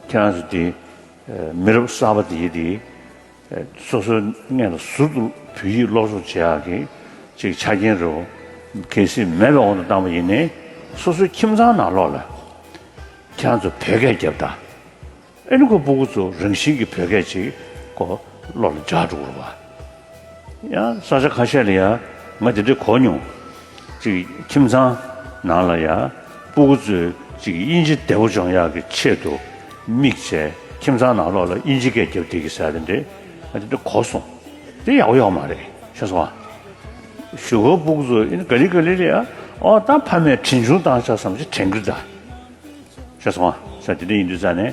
ཁྱེད་རང་ཚོ་དེ་མི་རབས་གསར་པ་དེས་དེ་སོ་སོའི་མངལ་ལ་ཟུར་དུ་བོད་ཡིག་ཀློག་ཆོག་བྱེད་ཡག་གི་ཅིག་ཆ་རྐྱེན་རེད་བོ། གལ་སྲིད་མེད་པའི་འོག་ཏུ་བཏང་བ་ཡིན་ནའི་སོ་སོའི་ཁྱིམ་ཚང་ནང་ལོག་ལ་ཁྱེད་རང་ཚོ་བོད་སྐད་རྒྱབ་ད་ཨེ་ནི་ཁོ་སྤུ་གུ་ཚོ་རང་བཞིན་གྱི་བོད་སྐད་ཅིག་གོ་ཀློག་ལ་འཇགས་འགྲོ་གི་རེད་བ། ཡང་ས་ཆ་ཁ་ཤས་ལ་ཡང་ང་དེ་འདྲའི་གོ་མྱོང། ཅིག་ཁྱིམ་ཚང་ནང་ལ་ཡང་སྤུ་གུ་ཚོས་ཅིག་དབྱིན་ཇི་བདེ་བོ་སྦྱོང་ཡག་གི་ཆེད་དུ་དམིགས་བྱས་ཁྱིམ་ཚང་ནང་ལོགས་ལ་དབྱིན་ཇི་སྐད་རྒྱབ་བསྡིག་གི་ཟེར་དེ་འདྲའི་ང་དེ་འདྲ་གོ་སོང། དེ་ཡག་པོ་ཡོག་མ་རེད་ཤེས་སོང་ཨ། བཞུགས་སྒར་སྤུ་གུ་ཚོ་ཨིན་ག་ལི་ག་ལི་རེད་ཨ་ཨོ་ད་ཕ་མས་དྲིན་ཆུང་བཏང་ཆགས་སམ་ཅིག་དྲན་གི་གདའ། ཤེས་སོང་ཨ་ས་དེ་འདྲ་ཡིན་དུས་རྩ་ནས།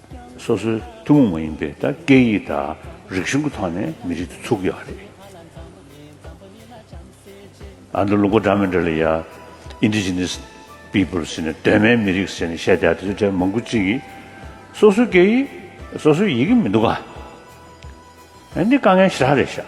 སོ་སོའི་ཐུན་མོང་མ་ཡིན་པའི་དང་སྐད་ཡིག་དང་རིག་གཞུང་གི་ཐོག་ནས་མི་རིགས་འདི་ཚུགས་ཡོད་པ་རེད། ཨ་མདོ་ལུང་པ་སྦྲགས་མི་འདྲ་ལ་ཡ། Indigenous Peoples། ཟེར་ནས་གདོད་མའི་མི་རིགས་ཟེར་ནས་བཤད་བསྡད་དེ་ཚོའི་གྲས་མང་པོ་གཅིག་གིས་སོ་སོའི་སྐད་ཡིག་སོ་སོའི་ཡིག་གི་མི་འདུག་ག། འདི་དཀའ་ངལ་ཞེ་དྲག་རེད་ཤག།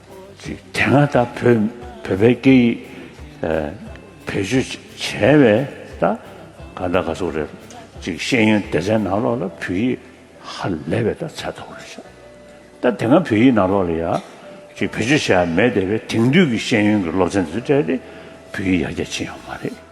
དེ་སྔ་ད་བོད་བོད་པའི་སྐད་ཡིག་བེད་སྤྱོད་བྱས་པའི་ད་ག་ད་ག་སོག་རེད་ཅིག་ཤེས་ཡོན་སྡེ་ཚན་ནང་ལོག་ལ་བོད་ཡིག་ཧ་ལས་པའི་ད་ཚད་ཐོག་རེད་ཤག་ད་དེ་སྔ་བོད་ཡིག་ནང་ལོག་ལ་ཡ་ཅིག་བེད་སྤྱོད་བྱས་པ་མེད་སྡེ་པའི་དེང་དུས་ཀྱི་ཤེས་ཡོན་གྱི་སློབ་ཚན་དེ་ཚོ་སྤྲད་དེ་བོད་ཡིག་ཡར་རྒྱ་ཕྱིན་ཡོང་མ་རེད།